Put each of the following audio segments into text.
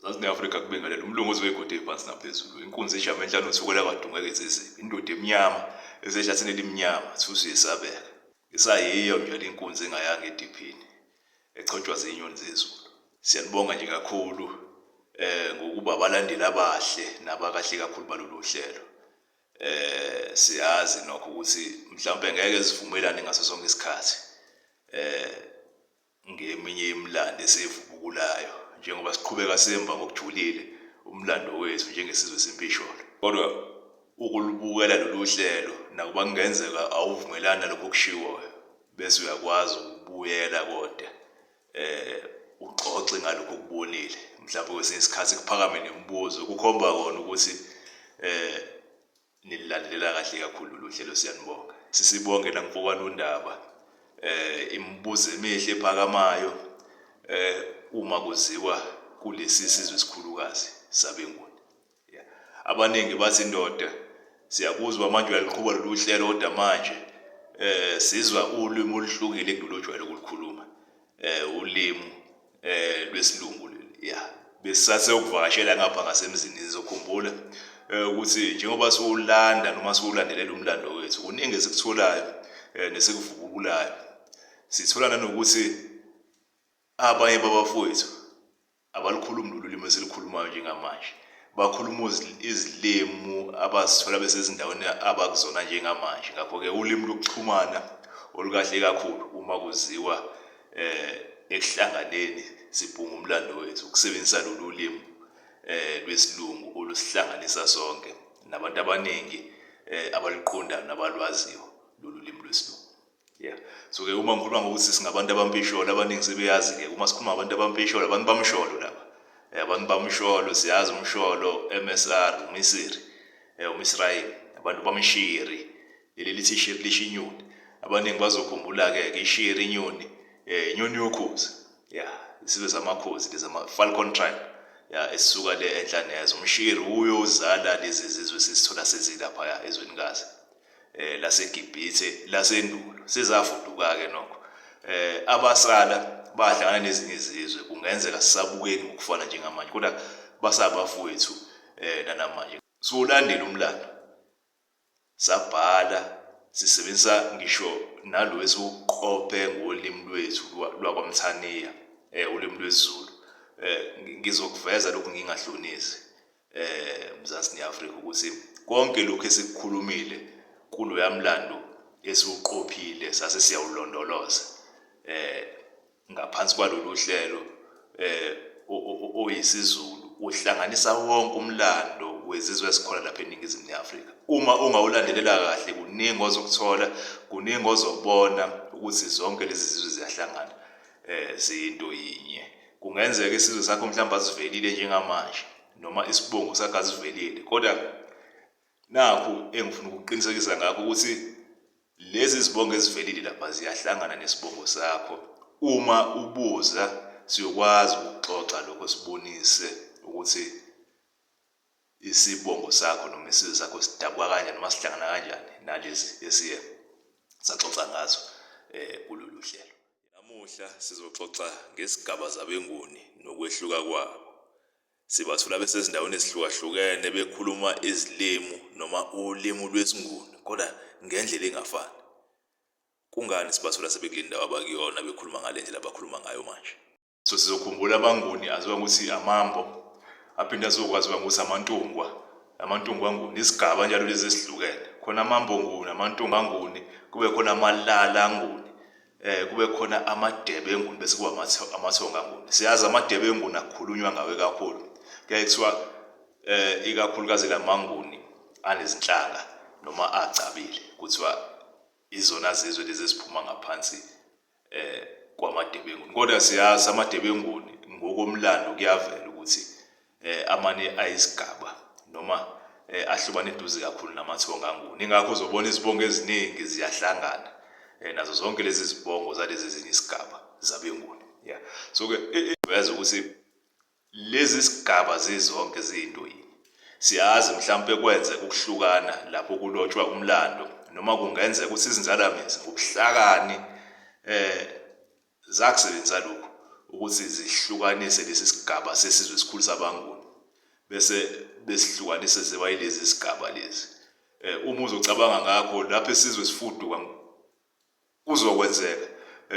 zazineafrika kubingelela umlungu ozoke egode iphansi naphezulu inkunzi ejama enhlanu thukela kadungeke ezizini indoda emnyama esehlathini elimnyama thusu yesabeka isayiyo nje inkunzi engayanga ediphini echotshwa zinyoni zezulu siyanibonga nje kakhulu eh ngokuba abalandeli abahle nabakahle kakhulu balolu hlelo eh siyazi nokho ukuthi mhlawumbe ngeke sivumelane ngaso sonke isikhathi eh Ngeminye yemilando eseyivubukulayo njengoba siqhubeka semba ngokujulile umlando wethu njengesizwe sempisholo. Kodwa ukulubukela lolu hlelo, nakuba kungenzeka awuvumelani nalokhu okushiwoyo, bese uyakwazi ukubuyela koda um uxoxe ngalokhu okubonile. Mhlawumbe kwesinye isikhathi kuphakame nemibuzo, kukhomba kona ukuthi um Nililandelela kahle kakhulu lolu hlelo siyanibonga. Sisibonge namfowani uNdaba eh imibuzo emihle ephakamayo eh uma kuziwa kulesi sizwe esikhulukazi sabeNguni. Yeah. Abaningi bathi ndoda siyakuzwa manje uyaliqhuba lolu hlelo kodwa manje eh sizwa ulimi oluhlukile kulojwayele ukulikhuluma. eh ulimi eh lwesilungu leli ya besisase ukuvakashela ngapha ngasemzini nizokhumbula eh, ukuthi njengoba siwulanda noma siwulandelela umlando wethu kuningi esikutholayo eh, nesikuvubukulayo sithola nanokuthi abanye babafowethu Abalukhulumi lolu limi esilukhulumayo njengamanje. Bakhuluma izilimi abazithola besezindaweni abakuzona njengamanje. Ngakho-ke ulimi lokuxhumana olukahle kakhulu uma kuziwa um ekuhlanganeni sibhunga umlando wethu, ukusebenzisa lolu limi um lwesilungu olusihlanganisa sonke nabantu abaningi um abaluqondayo nabalwaziyo lolu limi lwesilungu. Yeah. So ke uma ngikhuluma ngokuthi singabantu abampisholo abaningi sebeyazi ke uma sikhuluma abantu abampisholo abantu bamsholo laba. Eh, abantu bamsholo siyazi umsholo MSR uMisiri. Eh uMisrayeli abantu bamshiri. Leli lithi shiri lisho inyoni. Abaningi bazokhumbula ke ke ishiri inyoni eh inyoni yokhozi. Yeah, isibe samakhozi lezi ama Falcon tribe. Yeah, esisuka le enhlaneza umshiri uyo uzala lezi zizwe sisithola sezilapha ezweni kazi. eh laseGibhithe lasendulo sizafuduka-ke nokho eh abasala badlana nezinye izizwe kungenzeka sisabukeki ngokufana njengamanje kodwa basabafowethu eh nanamanje siwulandela umlando sabhala sisebenzisa ngisho nalo esiwuqophe ngolimi lwethu lwakwamthaniya eh ulimi lwezulu eh ngizokuveza lokhu ngingahlonisi eh Mzansi neAfrika ukuthi konke lokho esikukhulumile kuloya mlando esiwuqophile sase siyawulondoloza eh ngaphansi kwalolu hlelo eh oyisiZulu uhlanganisa wonke umlando wezizwe esikhona lapha eningizimu neAfrika uma ungawulandelela kahle kuningi ozokuthola kuningi ozobona ukuthi zonke lezi zizwe ziyahlangana eh ziyinto yinye Kungenzeka isizwe sakho mhlawumbe asivelile njengamanje noma isibongo sakho asivelile kodwa nakhu engifuna ukuqinisekisa ngakho ukuthi lezi zibongo ezivelile lapha ziyahlangana nesibongo sakho uma ubuza siyokwazi ukuxoxa lokho sibonise ukuthi isibongo sakho noma isizwe sakho sidabwa kanjani noma sihlangana kanjani nalezi esiye saxoxa ngazo um kulolu hlelo Namuhla sizoxoxa ngesigaba zabeNguni nokwehluka kwabo. Sibathola besezindaweni ezihlukahlukene bekhuluma izilimu noma ulimu lwesiNguni kodwa ngendlela engafani. Kungani sibathola sebekule ndawo abakuyona bekhuluma ngale ndlela abakhuluma ngayo manje? so sizokhumbula abanguni aziwa ukuthi amambo aphinde azokwaziwa ngokuthi amantungwa amantungwa nguni isigaba njalo lezi esihlukene khona amambo nguni amantungwa nguni kube khona amalala nguni eh kube khona amadebe enguni bese kuba amathonga nguni siyazi amadebe enguni akhulunywa ngawe kakhulu kuyaye kuthiwa eh ikakhulukazi lamanguni anezinhlanga noma agcabile kuthiwa izona zizwe lezi eziphuma ngaphansi eh kwamadebenguni kodwa siyazi amadebenguni ngokomlando kuyavela ukuthi eh amane ayisigaba noma eh, ahlobane eduze kakhulu namathonga anguni ingakho uzobona izibongo eziningi ziyahlangana eh, nazo zonke lezi zibongo zalezi ezinye isigaba zabenguni yeah so ke eh, eh, uyazi ukuthi Lezi zigaba zizonke ziyinto yinye. Siyazi mhlawumpe kwenzeka ukuhlukana lapho kulotshwa umlando noma kungenzeka ukuthi izinzalamizi ngobuhlakani eh zakusebenzisa lokhu ukuthi zihlukanise lesi sigaba sesizwe esikhulu sabaNguni bese besihlukanise ziba yilezi zigaba lezi. Eh uma uzocabanga ngakho lapho isizwe sifuduka Kuzokwenzeka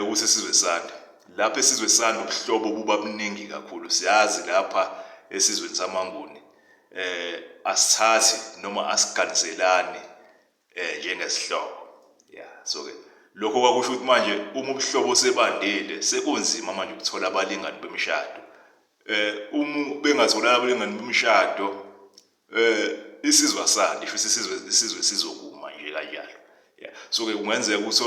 ukuthi isizwe sande. Lapha esizwe sande ubuhlobo buba buningi kakhulu. Siyazi lapha esizweni samaNguni eh asithathi noma asiganiselani eh njengezihlobo. Yeah, so ke lokho kwakusho ukuthi manje uma ubuhlobo sebandile sekunzima manje ukuthola abalingani bemishado. Eh uma bengatholana abalingani bemishado Eh isizwe asandi futhi isizwe isizwe sizokuma nje kanjalo. Yeah. So ke kungenzeka ukuthi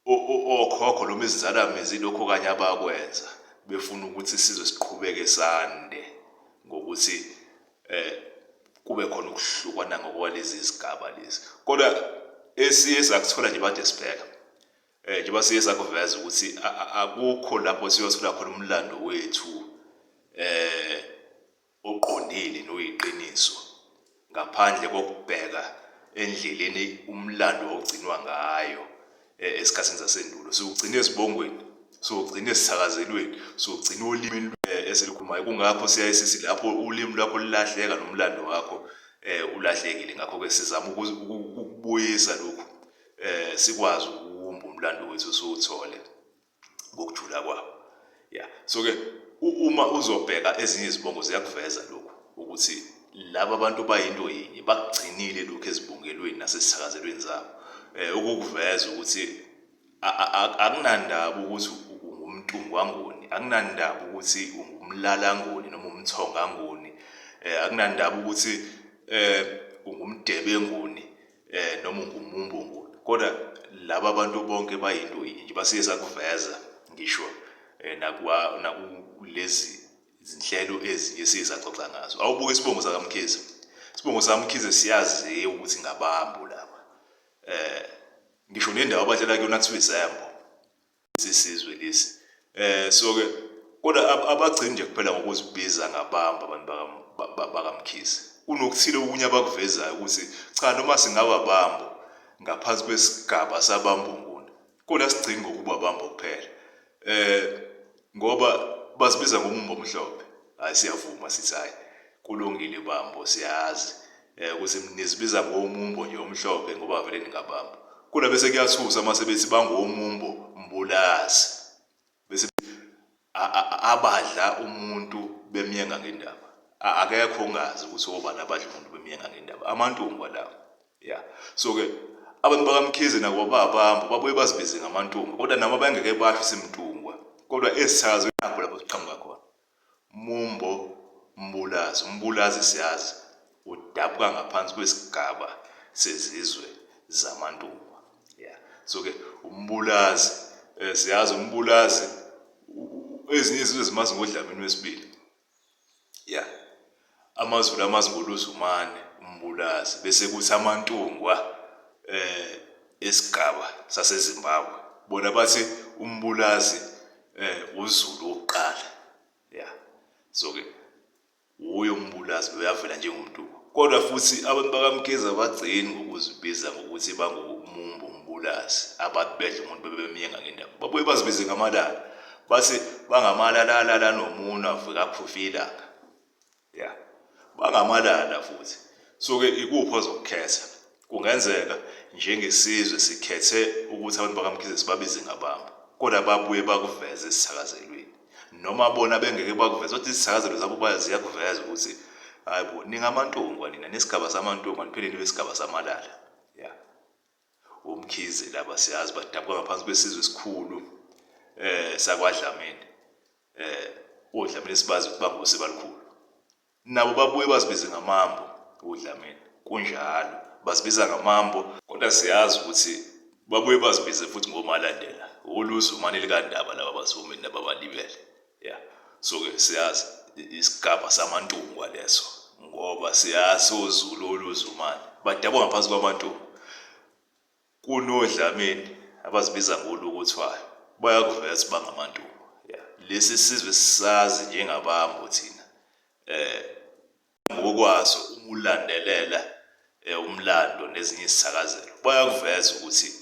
okhokho noma izinzala mizi lokho kanye abakwenza befuna ukuthi isizwe siqhubeke sande ngokuthi eh kube khona ukuhlukana ngokwalezi zigaba lezi. Kodwa esiye sakuthola nje bade sibheka eh njengoba siye sakuveza ukuthi akukho lapho siyothola khona umlando wethu eh oqondile noyiqiniso ngaphandle kokubheka endleleni umlando ogcinwa ngayo e, esikhathini zasendulo siwugcina ezibongweni siwugcina esithakazelweni siwugcina olimini eh, esilukhulumayo kungakho siyaye sithi lapho ulimi lwakho lilahleka nomlando wakho um ulahlekile ngakho-ke sizama ukubuyisa lokhu um sikwazi ukuwumba umlando wethu siwuthole ngokujula kwabo ya so ke uma uzobheka ezinye izibongo ziyakuveza lokhu ukuthi laba bantu bayinto yinye bakugcinile lokhu ezibongelweni nasesithakazelweni zabo um ukukuveza ukuthi akunandaba ukuthi ungumntungwangoni akunandaba ukuthi ungumlalangoni noma umthongangoni um akunandaba ukuthi um ungumdebengoni eh noma ungumumbungulu kodwa laba bantu bonke bayinto yinye nje basiye sakuveza ngisho eh, nakuwa nakulezi izinhlelo ezinye siye saxoxa ngazo awubuke isibongo sakamkhize isibongo sakamkhize siyaziwa ukuthi ngabambu laba eh ngisho nendawo abahlala kuyona kuthiwa izembo sisizwe lesi eh so ke kodwa abagcini nje kuphela ngokuzibiza ngabamba abantu bakamkhize kunokuthile okunye abakuvezayo ukuthi cha noma singaba bambo ngaphansi kwesigaba sabambunguni kodwa sigcini ngokuba bambo kuphela eh ngoba bazibiza ngomumbo omhlophe hayi siyavuma sithi hayi kulungile bambo siyazi Eh ukuthi nizibiza ngomumbo nje omhlophe ngoba vele ningabamba. Kona bese kuyathusa mase bethi bangomumbo mbulazi. Bese abadla umuntu bemyenga ngendaba. Akekho ongazi ukuthi obani abadla umuntu bemyenga ngendaba. Amantungu lawo. Yeah. So ke abantu bakamkhize nabo babamba babuye bazibize ngamantungu kodwa nabo bengeke basho simntungwa kodwa esithakazwe nakho lapho siqhamuka khona. Mumbo, Mbulazi, uMbulazi siyazi udabuka ngaphansi kwesigaba sezizwe zamaNtungwa. Yeah. So ke uMbulazi eh, siyazi uMbulazi ezinye izizwe zimazi ngodlamini wesibili. Yeah. AmaZulu amazi ngoluZumane uMbulazi bese kuthi amaNtungwa eh esigaba saseZimbabwe bona bathi uMbulazi eh uZulu wokuqala ya so ke wuye uMbulazi uyavela njengomNtungwa kodwa futhi abantu bakaMkhize abagcini ngokuzibiza ngokuthi bangumumbu uMbulazi abantu bedla umuntu bebemyenga ngendawo babuye bazibize ngamalala bathi bangamalala lala nomuna vukaphufi ilanga yeah bangamalala futhi soke ikuphi ozokukhetha kungenzeka njengesizwe sikhethe ukuthi abantu bakamkhize sibabize ngababo kodwa babuye bakuveze esithakazelweni noma bona bengeke bakuveze kodwa izithakazelo zabo ziyakuveza ukuthi hayi bo ningamantungwa nina nesigaba samantungwa niphinde nibe isigaba samalala ya umkhize laba siyazi badabuka ngaphansi kwesizwe esikhulu eh sakwadlamini Eh, uDlamini sibazi ukuthi bangosi balikhulu. Nabo babuye bazibize ngamambo uDlamini. Kunjalo, bazibiza ngamambo kodwa siyazi ukuthi babuye bazibize futhi ngomalandela. Uluzu mani likandaba laba bazomini nababalibele. Yeah. So ke siyazi isigaba samantungwa leso ngoba siyazi uZulu oluzumani. Badabwa ngaphansi kwamantungu. kunoDlamini abazibiza ngolukuthwayo bayakuveza ukuthi bangamantuba yeah. lesi sizwe sisazi njengabambo thina eh ngokwaso uma ulandelela eh, umlando nezinye isithakazelo bayakuveza ukuthi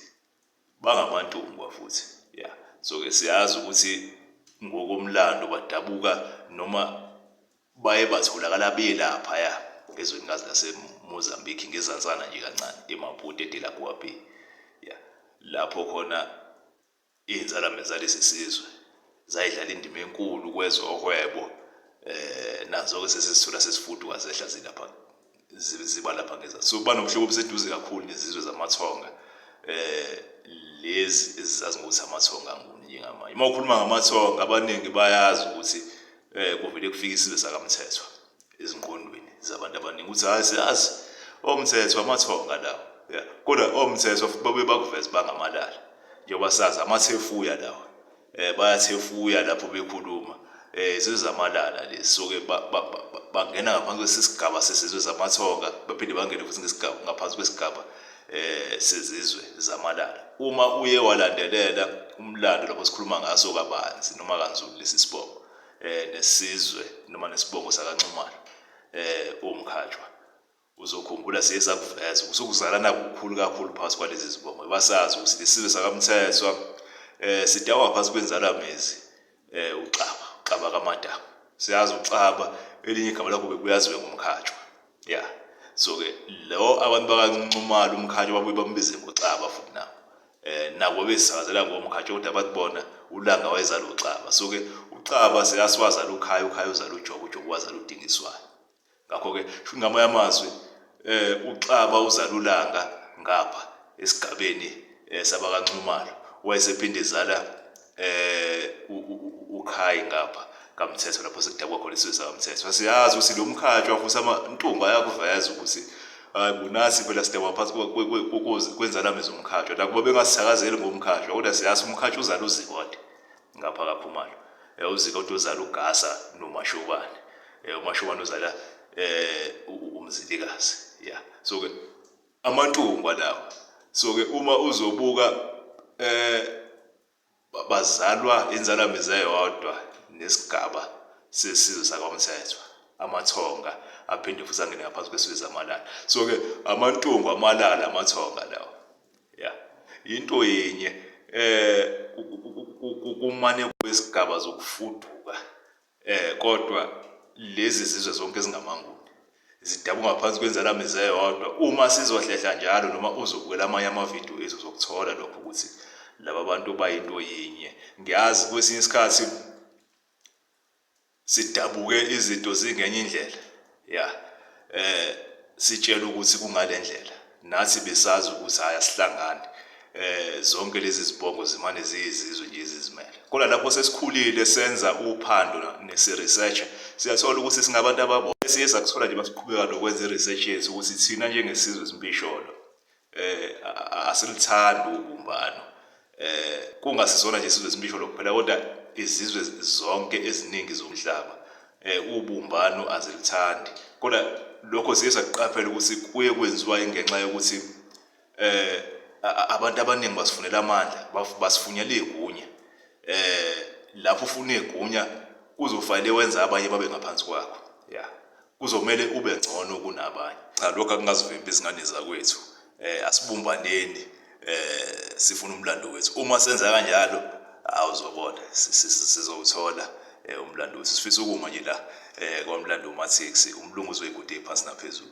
bangamantuba futhi yeah so ke siyazi ukuthi ngokomlando badabuka noma baye batholakala beye laphaya ezwenikazi lasemozambique ngezansana nje kancane emaputo edelagoa bay ya lapho khona iy'nzalame zalesi sizwe zayidlala indima enkulu kwezohwebo um eh, nazo-ke sesizithola sesifuduka zehla zilapha ziba lapha ngeza so kuba nobuhlobo obuseduze kakhulu nezizwe zamathonga eh lezi ezizazi ngokuthi amathonga nguni njengamanje uma ukhuluma ngamathonga abaningi bayazi ukuthi eh kuvele kufika isizwe sakamthethwa ezinqondweni zabantu abaningi ukuthi hayi siyazi omthethwa amathonga lawo yeah kodwa omthethwa babe bakuveza bangamalala njengoba sazi amathefuya lawo eh bayathefuya lapho bekhuluma eh izizwe zamalala lezi so ke bangena ngaphansi kwesisigaba sesizwe zamathonga baphinde bangene futhi ngesigaba ngaphansi kwesigaba eh sezizwe zamalala uma uye walandelela umlando lapho sikhuluma ngaso kabanzi noma kanzulu lesi sibongo eh nesizwe noma nesibongo sakanxumalo eh umkhatshwa Uzokhumbula siye sakuveza ukuthi ukuzalana kukhulu kakhulu phakathi kwalezi zibongo ngoba sazi ukuthi lesizwe sakaMthethwa um eh, sidakwa ngaphansi kwenzalamizi um eh, uXaba uXaba kaMadaba siyazi uXaba elinye igama lakho bekuyaziwe ngomkhatshwa ya so-ke lo abantu bakanxumala umkhatshwa babuye bambize ngoXaba futhi nabo um nabo besizakazela ngomkhatshwa kodwa abantu bona ulanga wayezala uXaba so-ke uXaba sekasiwazala ukhaya ukhaya uzala ujobo ujobo wazala udingiswayo Ngakho-ke sho ngamanye amazwi eh uXaba uzalulanga ngapha esigabeni eh, sabakaNxumalo wayesephinde ezala eh uKhayi ngapha kaMthetho lapho sekudakwa khona isizwe sakaMthetho siyazi ukuthi lo mkhatshwa futhi amantumba ayakuveza ukuthi hayi kunasi phela sidakwa phansi kwenzala mezomkhatshwa nakuba bengasithakazeli ngomkhatshwa kodwa siyazi umkhatshwa uzala uzikode ngapha kakhumalo eh, uzika uthi uzala ugasa nomashobane eh, umashobane uzala um umzilikazi ya so ke amantungwa lawo so ke uma uzobuka um bazalwa inzala mize yodwa nesigaba sesizwe sakwamthethwa amathonga aphinde futhi angene ngaphansi kwesizwe samalala so-ke amantungu amalala amathonga lawo ya yinto yenye um kumane kwesigaba zokufuduka um kodwa lezi zizwe zonke ezingamanguni zidabuka ngaphansi kwenzala mize yodwa uma sizohlehla njalo noma uzobukela amanye amavidiyo ethu zokuthola lokho ukuthi laba bantu bayinto yinye ngiyazi kwesinye isikhathi sidabuke izinto zingenye indlela ya eh sitshela ukuthi kungalendlela nathi besazi ukuthi haya sihlangane eh zonke lezi zibongo zimane ziyizizwe nje izizimele kodwa lapho sesikhulile senza uphando nesiresearch siyathola ukuthi singabantu ababo siye sakuthola nje basiqhubeka nokwenza iresearch yethu ukuthi thina njengesizwe esimpisholo eh asilithandi ubumbano eh kungasizona nje isizwe esimisho lokuphela kodwa izizwe zonke eziningi zomhlaba eh ubumbano azilithandi kodwa lokho siye saqaphela ukuthi kuye kwenziwa ingenxa yokuthi eh abantu abaningi basifunela amandla basifunyela igunya eh lapho ufuna igunya kuzofanele wenza abanye babe ngaphansi kwakho yeah kuzomele ube ngcono kunabanye cha lokho akungazivimbi izingane zakwethu eh asibumbaneni eh sifuna umlando wethu uma senza kanjalo awuzobona sizowuthola eh, umlando wethu sifisa ukuma nje la eh kwamlando umathix umlungu uzoyigude phansi naphezulu